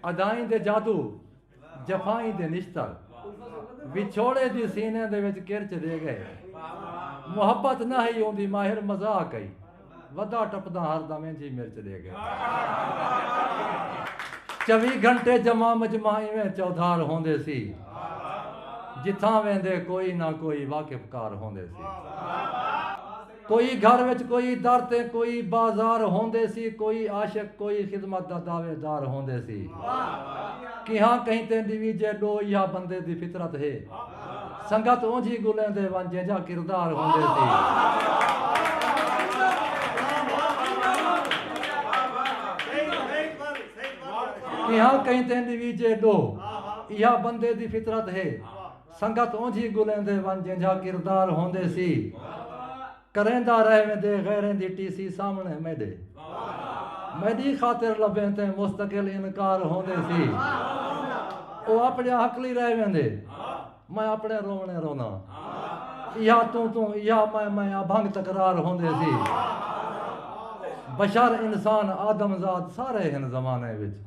ادائیں دے جادو، جفائیں دے نشتر۔ وچھوڑے دی سینے دے وچ کرچ دے ڳئے۔ محبت نہ ہئی اوندی ماہر مذاق ہئی۔ ودا ٹپداں ہر دم انج ہی مرچ دے ڳئے۔ چوی گھنٹے جمع مجمع ایویں چودھار ہوندے سی۔ جتھاں ویندے کوئی نہ کوئی واقف کار ہوندے سی۔ کوئی گھر وچ کوئی در تے کوئی بازار ہوندے سی کوئی عاشق کوئی خدمت دا دعوے دار ہوندے سی کیہاں کہیں تے ڈویجے ڈو ایہا بندے دی فطرت ہے سنگت اونجھی گلیندے ون جینجھا کردار ہوندے سی کیہاں کہیں تے ڈویجے ڈو ایہا بندے دی فطرت ہے سنگت اونجھی گلیندے ون جینجھا کردار ہوندے سی کریندا رہ ویندے غیریں دی ٹی سی سامنڑے میڈے میڈی خاطر لبھیں تیں مستقل انکار ہوندے سی او اپڑیا ہکلی رہ ویندے میں اپڑیں رونڑے روناں ایہا توں توں ایہا میں میں ابھنگ تکرار ہوندے سی بشر انسان آدم زاد سارے ہن زمانے وچ۔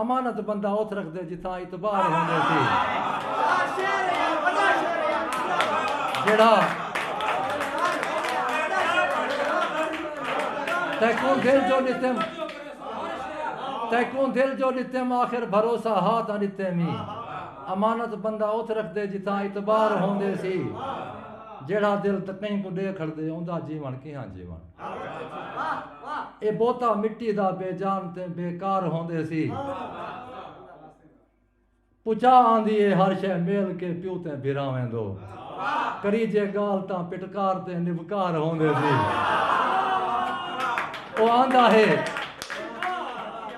امانت بندہ اتھ رکھدے جتھاں اعتبار ہوندے سی۔ جیڑھا تیکوں دل جو ݙتیم تیکوں دل جو ݙتیم آخر بھروسہ ہا تاں ݙتیم ای۔ امانت بندہ اتھ رکھدے جتھاں اعتبار ہوندے سی۔ جیڑھا دل کہیں کوں ݙے کھڑدے اوندا جیوݨ کیہاں جیوݨ۔ اے بوتا مٹی دا بے جان تے بے کار ہوندے سی پچا آندی اے ہر شے میل کے پیو تے بھراویں دو کریجے گال تاں پٹکار تے نبکار ہوندے سی او آندا ہے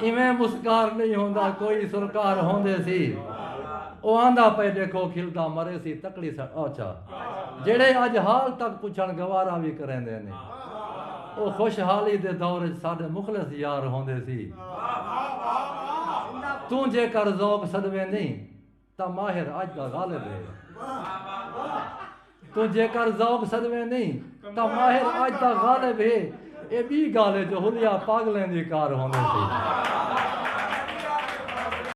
ایویں مسکار نئیں ہوندا کوئی سرکار ہوندے سی او آندا پئے ڈیکھو کھلدا مرے سی تکڑی سٹ اچھا جیڑھے اج حال تک پچھن گوارا وی کریندے نے او خوش حالی دے دور اچ ساڈے مخلص یار ہوندے سی توں جیکر ذوق سڈویندیں تاں ماہر اج دا غالب ہے۔ توں جیکر ذوق سدویں نئیں تاں ماہر اج دا غالب ہے۔ ایہ ٻی گالھ ہے جو حلیہ پاگلیں دی کار ہوندی سی۔